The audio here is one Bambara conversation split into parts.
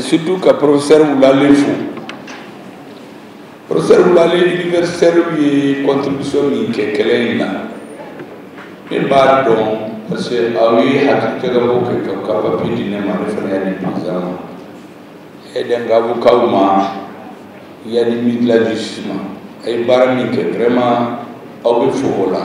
surtout ka professeur Wulale fo professeur Wulale universitairew ye contribution min kɛ kɛlɛ in na ne b'a dɔn parce que aw ye hakilijagabɔ kɛ ka ka papier di ne ma ne fana y'a di président ma y'a di an ka avocatw ma y'a di ministre de la justice ma a ye baara min kɛ vraiment aw bɛ fo o la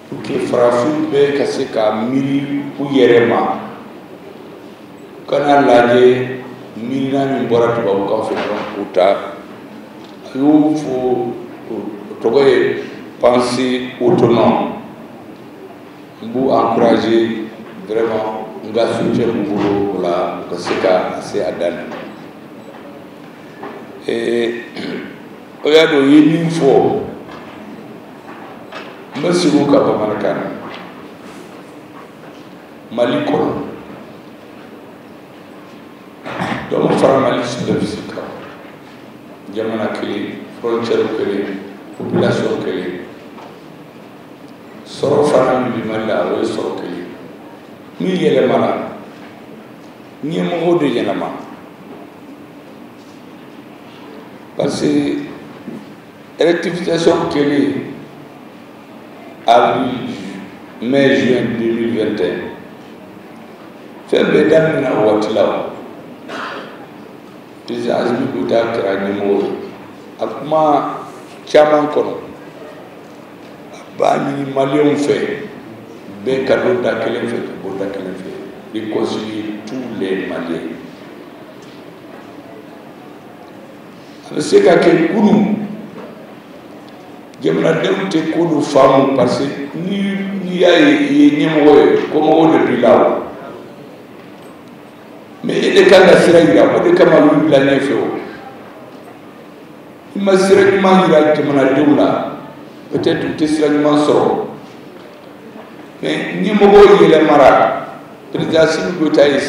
farafinw bɛ ka se ka miiri u yɛrɛ ma kana lajɛ miirina min bɔra tubabuw kan fɛ dɔrɔn k'o ta a y'o fɔ o tɔgɔ ye pensée autonome n b'u encourager vraiment n ka soutien b'u bolo o la u ka se ka se a dan na o y'a dɔn u ye min fɔ n bɛ segin o kan bamanankan na mali kɔnɔ dɔ ma fara mali superficie kan jamana kelen frontière kelen population kelen sɔrɔ fana min bɛ mali la o ye sɔrɔ kelen min yɛlɛmana ɲɛmɔgɔ de yɛlɛma parce que Rectification kɛlen avril mai juin 2021 fɛn bɛɛ daminɛna o waati la o président Asimi Goyita kɛra ɲɛmɔgɔ ye a kuma caman kɔnɔ a b'a ɲini maliyɛnw fɛ bɛɛ ka don da kelen fɛ ka bɔ da kelen fɛ réconcilier tous les maliens a bɛ se ka kɛ kunun jamanadenw tɛ ko dɔ faamu parce que ni n'i y'a ye i ye ɲɛmɔgɔ ye kɔmɔgɔw de b'i la o mais e de kan ka sira yira o de kama olu bila ɲɛfɛ o i ma sira ɲuman yira jamanadenw la peut-être u tɛ sira ɲuman sɔrɔ mais ɲɛmɔgɔ yɛlɛmara président Asimi Goyita ye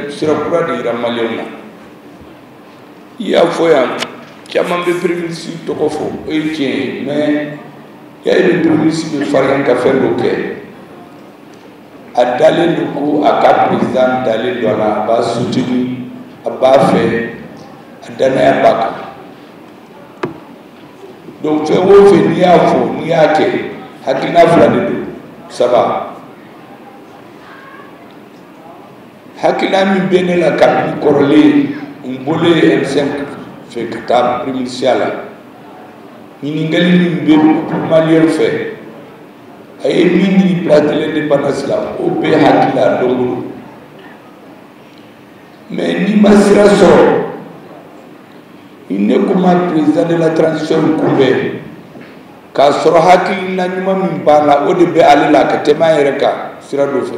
sira kura de yira maliyɛnw na i y'a fɔ yan caman bɛ premier ministre tɔgɔ fɔ o ye tiɲɛ ye mais y'a ye premier ministre bɛ farinya ka fɛn dɔ kɛ a dalen don ko a ka président dalen don a la a b'a soutenir a b'a fɛ a danaya b'a kan donc fɛn o fɛn n'i y'a fɔ n'i y'a kɛ hakilina fila de don saba hakilila min bɛ ne la kabini kɔrɔlen n bɔlen M5 fɛ ka taa premier ministre ya la ɲininkali min bɛ maliyɛn fɛ a ye min ɲini place de l'indépendance la o bɛ n hakili la don o don mais n'i ma sira sɔrɔ ne ko ma président de la transition kunbɛn k'a sɔrɔ hakilina ɲuman min b'a la o de bɛ ale la ka tɛmɛ an yɛrɛ kan sira dɔ fɛ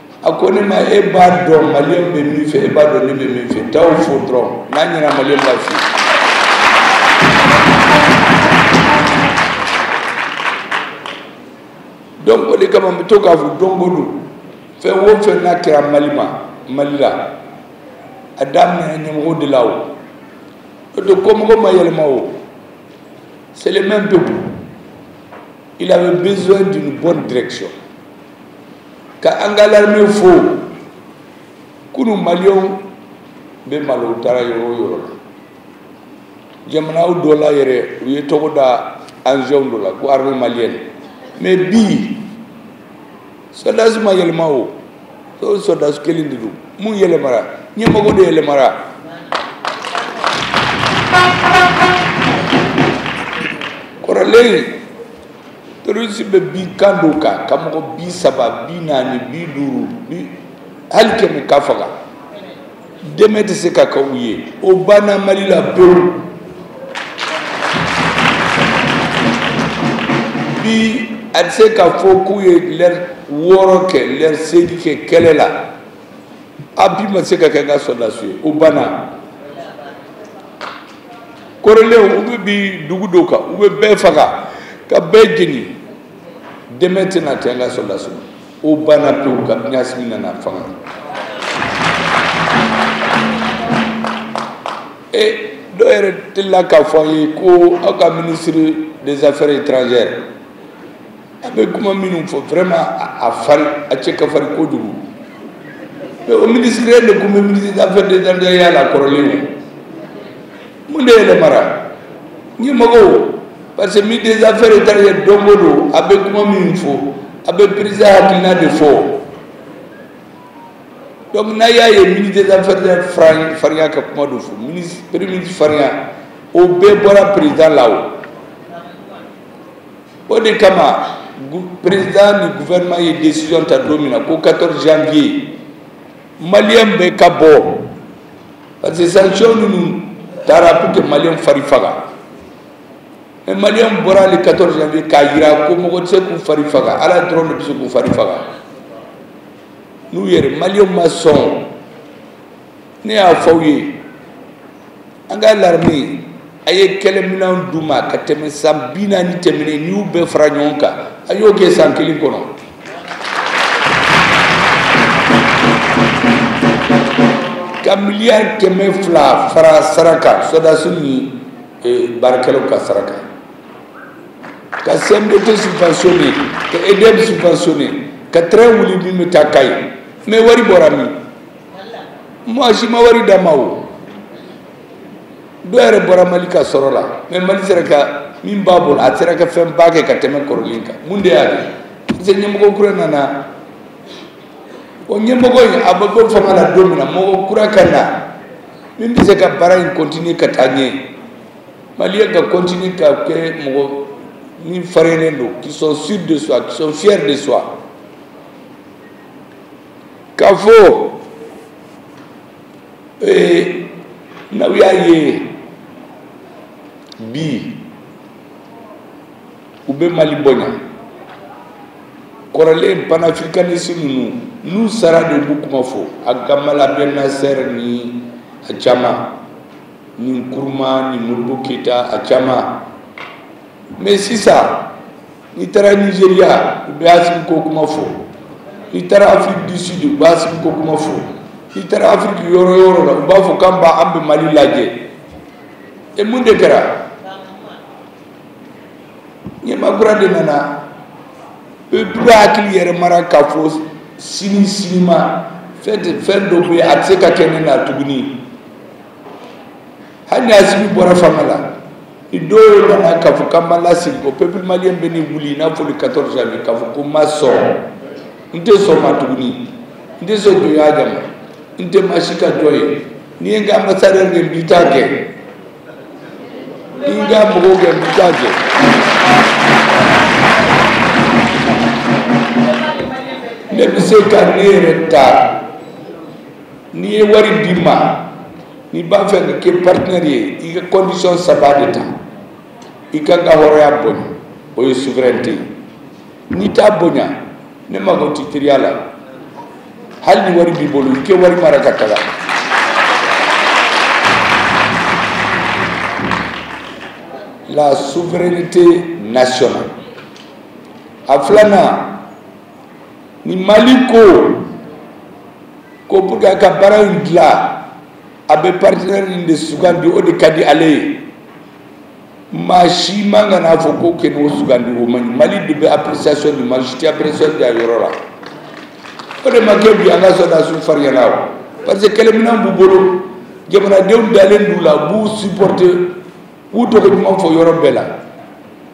a ko ne ma e b'a dɔn maliyɛnw bɛ min fɛ e b'a dɔn ne bɛ min fɛ taa o fɔ dɔrɔn n'a ɲɛna maliyɛn b'a f'i ye donc o de kama n bɛ to k'a fɔ don o don fɛn o fɛn n'a kɛra mali ma mali la a daminɛ ɲɛmɔgɔ de la o o de ko mɔgɔ ma yɛlɛma o c'est le même peuple il avait besoin d'une bonne direction ka an ka larame fɔ kunu maliyɛnw bɛ malo u taara yɔrɔ o yɔrɔ la jamanaw dɔ la yɛrɛ u ye tɔgɔ da anzɛnw dɔ la ko arme maliyɛn mais bi sɔdasi ma yɛlɛma o o sɔdasi kelen de don mun yɛlɛmara ɲɛmɔgɔ de yɛlɛmara kɔrɔlen terroriste bɛ bin camp dɔ kan ka mɔgɔ bi saba bi naani bi duuru bi hali kɛmɛ ka faga dɛmɛ tɛ se ka kɛ u ye o banna mali la pewu bi a tɛ se ka fɔ k'u ye lɛri wɔɔrɔ kɛ lɛri seegin kɛ kɛlɛ la appui ma se ka kɛ an ka sɔrɔdasi ye o banna kɔrɔlen u bɛ bin dugu dɔ kan u bɛ bɛɛ faga ka bɛɛ jeni dɛmɛ tɛna tɛ an ka sɔdasi sɔrɔ o banna pewu kabini Assimi nana fanga la dɔw yɛrɛ delila k'a fɔ an ye ko aw ka minisiri des affaires étrangères a bɛ kuma minnu fɔ vraiment a farin a cɛ ka farin kojugu mais o ministre de tun bɛ ministre d'affaires étrangères ya la kɔrɔlen o mun de yɛlɛmara ɲɛmɔgɔ parce que ministre des affaires étrangères don o don a bɛ kuma minnu fɔ a bɛ président hakilina de fɔ donc n'aw y'a ye ministre des affaires étrangères farinya ka kuma dɔ fɔ ministre premier ministre farinya o bɛɛ bɔra président la o o de kama président ni gouvernement ye décision ta don min na ko 14 janvier maliyɛn bɛɛ ka bɔ parce que sanction ninnu tara pour que maliyɛn fari faga mais maliyɛn bɔra le 14 janvier k'a jira ko mɔgɔ tɛ se k'u fari faga ala dɔrɔn de bɛ se k'u fari faga n'u yɛrɛ maliyɛnw ma sɔn ne y'a fɔ aw ye an ka l'armée a ye kɛlɛminɛn d'u ma ka tɛmɛ san bi naani tɛmɛnen n'i y'u bɛɛ fara ɲɔgɔn kan a y'o kɛ san kelen kɔnɔ ka miliyari kɛmɛ fila fara sara kan sɔrɔdasi ni baarakɛlaw ka sara kan ka cmdt subventionné ka edm subventionné ka train wuli min bɛ taa kayi mais wari bɔra min mɔgɔ si ma wari d'a ma o dɔ yɛrɛ bɔra mali ka sɔrɔ la mais mali sera ka min b'a bolo a sera ka fɛnba kɛ ka tɛmɛ kɔrɔlen kan mun de y'a kɛ parce que ɲɛmɔgɔ kura nana o ɲɛmɔgɔ in a bɛ bɔ fanga la don min na mɔgɔ kura ka na min bɛ se ka baara in kɔntini ka taa ɲɛ maliyɛn ka kɔntini ka kɛ mɔgɔ min farinnen don qui sont sûrs de soi qui sont fiers de soi k'a fɔ ee n'aw y'a ye bi u bɛ mali bonya kɔrɔlen panafricaniste ninnu n'u sara de b'u kuma fɔ a gamal abdel nasser ni a caman ni nkrumah ni modibo keyita a caman mais sisan n'i taara nizeriya u bɛ asimi ko kuma fɔ n'i taara afrique du sud u bɛ asimi ko kuma fɔ n'i taara afiriki yɔrɔ o yɔrɔ la u b'a fɔ k'an b'a an bɛ mali lajɛ e mun de kɛra ɲɛmaa kura de nana peuple hakili yɛlɛmara k'a fɔ sini sinima fɛn dɔ bɛ yen a tɛ se ka kɛ ne na tuguni hali ni asimi bɔra fanga la ni dɔ wɛrɛ nana k'a fɔ k'a b'an lasegin kɔ peuple malien bɛna wuli i n'a fɔ le 14 janvier k'a fɔ ko n ma sɔn n tɛ sɔn a ma tuguni n tɛ sɔn jɔnya kama n tɛ maa si ka jɔn ye n'i ye n ka ambassadeur gɛn n b'i ta gɛn n'i ye n ka mɔgɔw gɛn n b'i ta gɛn. ne bɛ se ka ne yɛrɛ ta n'i ye wari di n ma n'i b'a fɛ ka kɛ partenaire ye i ka condition saba de ta i k'an ka hɔrɔnya bonya o ye souveraineté ye n'i t'a bonya ne mago t'i teriya la hali ni wari b'i bolo i k'i wari mara ka taga la souveraineté nationale a filanan ni mali ko ko pour que a ka baara in dilan a bɛ partenaire nin de sugandi o de ka di ale ye maa si man kan n'a fɔ ko kana o sugandi o man ɲi mali de bɛ appréciation di maa si tɛ appréciation di a yɔrɔ la o de ma kɛ bi an ka sɔrɔdasiw farinyana o parce que kɛlɛminɛn b'u bolo jamanadenw dalen d'u la b'u supporter k'u tɔgɔ ɲuman fɔ yɔrɔ bɛɛ la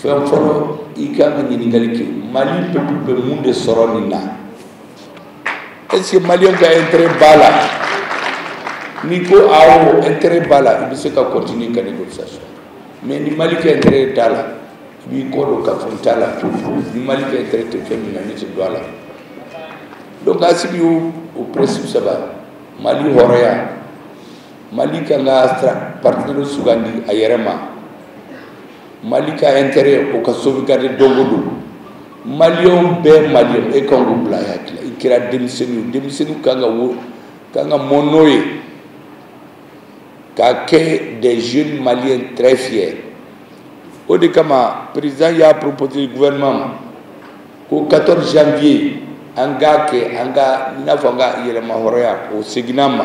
fɛn fɔlɔ i ka kan ka ɲininkali kɛ mali peuple bɛ mun de sɔrɔ nin na est ce que maliyɛn ka intérêt b'a la n'i ko awɔ intérêt b'a la i bɛ se ka continuer ka négociation mais ni mali ka intérêt t'a la i b'i kɔ don k'a fɔ n t'a la ni mali ka intérêt tɛ fɛn min na ne tɛ don a la donc a sigi o o principe saba mali hɔrɔnya mali k'a ka partenairew sugandi a yɛrɛ ma mali ka intérêt o ka sauvegarder don o don maliyɛnw bɛɛ maliyɛn e kan k'o bila i hakili la i kɛra denmisɛnnin o denmisɛnnin kan ka wo kan ka mɔ n'o ye ka kɛ des jeunes maliens très fiers o de kama président y'a proposer gouvernement ma ko 14 janvier an k'a kɛ an ka i n'a fɔ an ka yɛrɛmahɔrɔnya o seginna an ma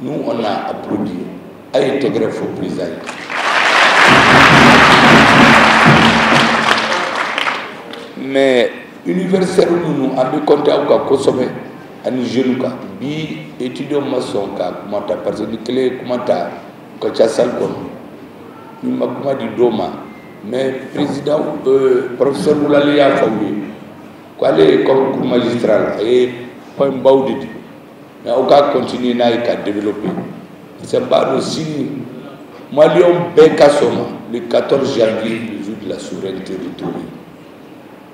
nous on a applaudi a ye tɛgɛrɛ fo président ye mais universitaire minnu an bɛ compter aw kan kosɛbɛ ani jeunes kan bi étudiant ma sɔn ka kuma ta parce que ni kelen ye kuma ta u ka ca salle kɔnɔ n'i ma kuma di dɔw ma mais président euh, professeur Moulali y'a fɔ u ye ko ale ye comme cours magistral a ye points baw de di mais aw ka continuer n'a ye k'a développer parce que n b'a dɔn sini maliyɛnw bɛɛ ka sɔn a ma le 14 janvier le jour de la souveraineté retrouvée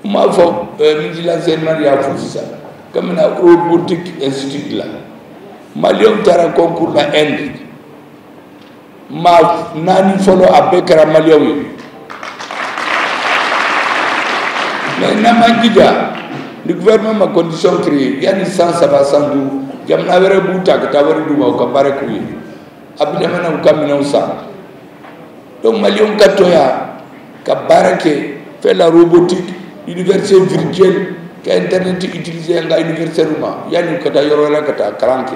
n m'a fɔ euh, ministre de l'enseignement y'a fɔ sisan cogo min na robotique institut la maliyɛnw taara concours la inde maa naani fɔlɔ a bɛɛ kɛra maliyɛnw ye mais n'an m'an jija ni gouvernement ma condition créer yanni san saba san duuru jamana wɛrɛ b'u ta ka taa wari d'u ma u ka baara k'u ye a bɛ laban an k'u ka minɛnw san donc maliyɛnw ka to yan ka baara kɛ faire la robotique université virtuelle ka internet utiliser an ka universitaires ma yanni u ka taa yɔrɔ la ka taa kalan kɛ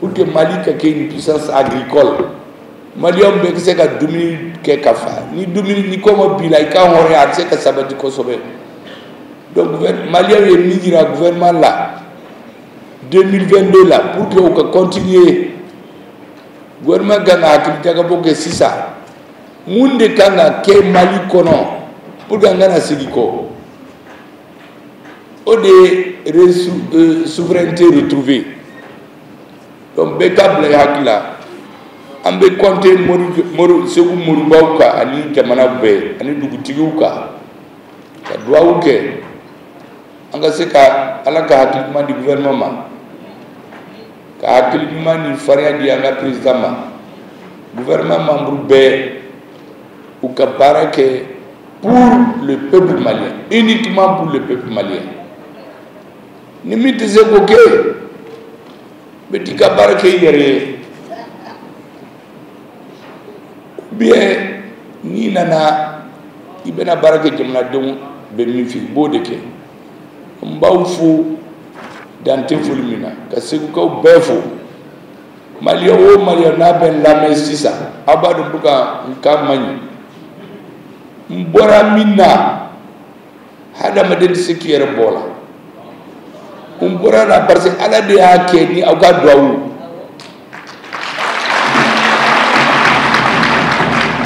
pour que mali ka kɛ une puissance agricole maliyɛnw bɛ se ka dumuni kɛ ka fa ni dumuni ni kɔngɔ b'i la i ka hɔrɔnya a tɛ se ka sabati kosɛbɛ donc maliyɛnw ye min jira gouvernement la 2022 la pour que u ka continuer gouvernement kan ka hakili jagabɔ kɛ sisan mun de kan ka kɛ mali kɔnɔ pour que an kana segin kɔ o de ye souveraineté retrouvée donc bɛɛ k'a bila i hakili la an bɛ compter mori segu moribaw kan ani jamana bɛɛ ani dugutigiw kan ka duwawu kɛ an ka se ka ala ka hakili ɲuman di gouvernement ma ka hakili ɲuman ni farinya di an ka président ma gouvernement membre bɛɛ u ka baara kɛ pour le peuple malien uniquement pour le peuple malien ni min tɛ se k'o kɛ bɛ t'i ka baara kɛ i yɛrɛ ye ou bien n'i nana i bɛna baara kɛ jamanadenw bɛ min fɛ i b'o de kɛ n b'aw fo dantɛ foli min na ka segukaw bɛɛ fo maliyɛn o maliyɛn n'a bɛ n lamɛn sisan aw b'a dɔn ko ka n ka man ɲi n bɔra min na hadamaden tɛ se k'i yɛrɛ bɔ a la n bɔra a la parce que ala de y'a kɛ ni aw ka duwawu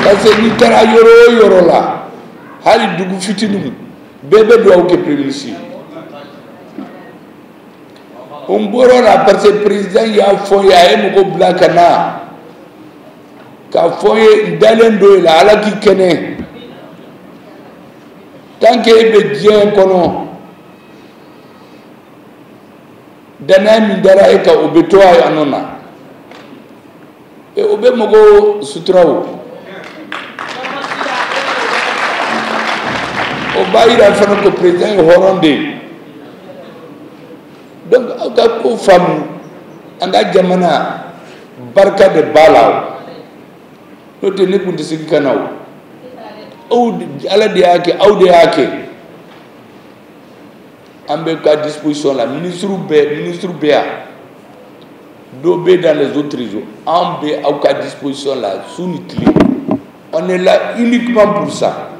parce que n'i taara yɔrɔ o yɔrɔ la hali dugu fitininw bɛɛ bɛ duwawu kɛ premier ministre ye n bɔr'o la parce que président y'a fɔ n ye a ye mɔgɔ bila ka na k'a fɔ n ye n dalen don e la ala k'i kɛnɛ tant que e bɛ diɲɛ kɔnɔ danaya min dara e kan o bɛ to a nɔ na e, o bɛ mɔgɔw sutura o o b'a yira fana ko président ye hɔrɔn de ye donc aw ka ko faamu an ka jamana barika de b'a la o n'o tɛ ne tun tɛ segin ka na o aw ala de y'a kɛ aw de y'a kɛ an bɛ ka disposition la ministre bɛɛ ministre bɛ yan dɔ bɛ dans les autres régions an bɛ aw ka disposition la su ni tile on est là uniquement pour ça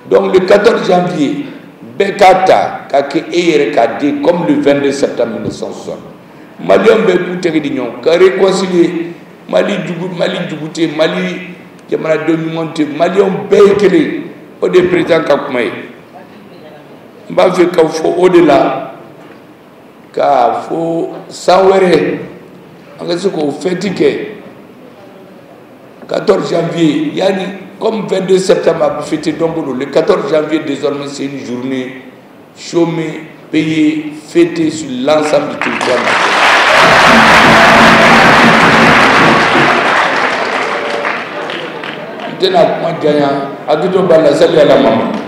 donc le 14 janvier bɛɛ k'a ta k'a kɛ e yɛrɛ k'a di comme le 22 septembre 1960 maliyɛnw bɛɛ k'u tɛgɛ di ɲɔgɔn ka réconcilier mali jugu mali jugu tɛ mali jamanaden ɲuman tɛ maliyɛnw bɛɛ ye kelen o de ye président ka kuma ye n b'a fɛ k'a fɔ o de la k'a fɔ san wɛrɛ an ka se k'o fɛti kɛ 14 janvier yanni comme 22 septembre a bɛ fêter donc le 14 janvier désormais c'est une journée chômée, payée, fêtée sur l'ensemble du territoire national. N tɛna kuma janya, hakɛto b'a la, sali Ala Mahamadu.